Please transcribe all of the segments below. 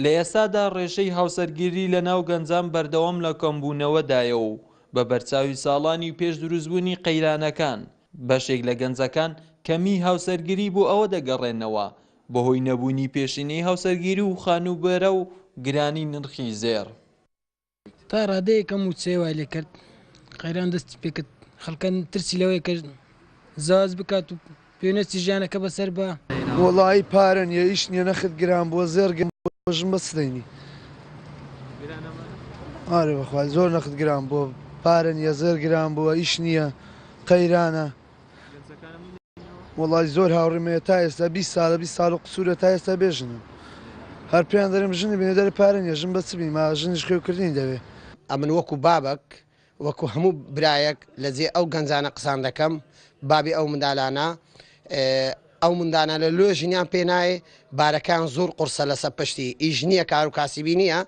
لە ئێستادا ڕێژەی هاوسەرگیری لەناو گەنجان بەردەوام لە کەمبوونەوەدایە و بە بەرچاوی ساڵانی پێش دروستبوونی قەیرانەکان، بەشێک لە گەنجەکان کەمیی هاوسەرگیری بۆ ئەوە دەگەڕێننەوە بەهۆی نەبوونی پێشینەی هاوسەرگیری و خانووبەرە و گرانی نرخی زێڕ. تا ڕادەیەک ئەم وچەیە وای لێ کرد قەیران دەستی پێکرد خەڵکە ترسی لەوەی کە زاز بکات و پێنەچی ژیانەکە بەسەر بە وەڵایی پارە نیە ئیش نیە نەخت گران بووە زێر گەم ژم بە سدەینی ئارێ بەخوای زۆر نەخت گران بووە پارە نیە زێر گران بووە ئیش نییە قەیرانە. وەڵای زۆر هاوڕێم هەیە تا ئێستا بیست سالە بیست سال و قسورە تا ئێستا بێ ژنن هەر پێیان دەرێم ژنی بێنە دەرێ پارە نیە ژن بە چ بیما ژنیش خوێوکردنی دەوێ ئەمن وەکو بابەک وەکو هەموو برایەک لە جێ ئەو گەنجانە قسان دەکەم بابی ئەو مندالانە ئەو مندانە لە لۆ ژنیان پێ نایێ بارەکان زۆر قورسە لەسە پشتی ئیش نییە کار و کاسیبی نییە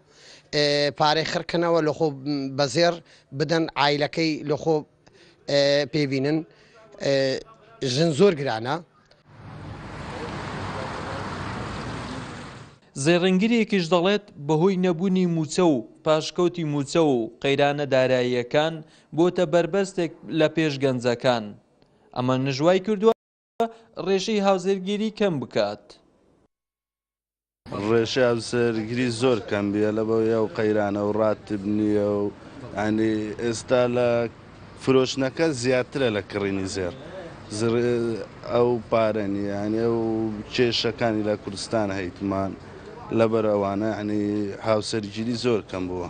پارەی خڕکەنەوە لە خۆ بەزێر بدەن ئایلەکەی لە خۆ پێی بینن ژن زۆر گرانە. زێڕینگرێکیش دەڵێت، بەهۆی نەبوونی مووچە و پاشکەوتی مووچە و قەیرانە داراییەکان بۆتە بەربەستێک لە پێش گەنجەکان ئەمەنژ وایکردووە، ڕێژەی هاوسەرگیری کەم بکات. ڕێژەی هاوسەرگیری زۆر کەم بیە لەبەوەی ئەو قەیرانە و ڕاتب نییە و ئەنی ئێستا لە فرۆشتنەکە زیاترە لە کڕینی زێڕ ئەو پارە نییەنێ و کێشەکانی لە کوردستان هەیتمان لەبەر ئەوانە ئەنی هاوسەرگیری زۆر کەم بووە.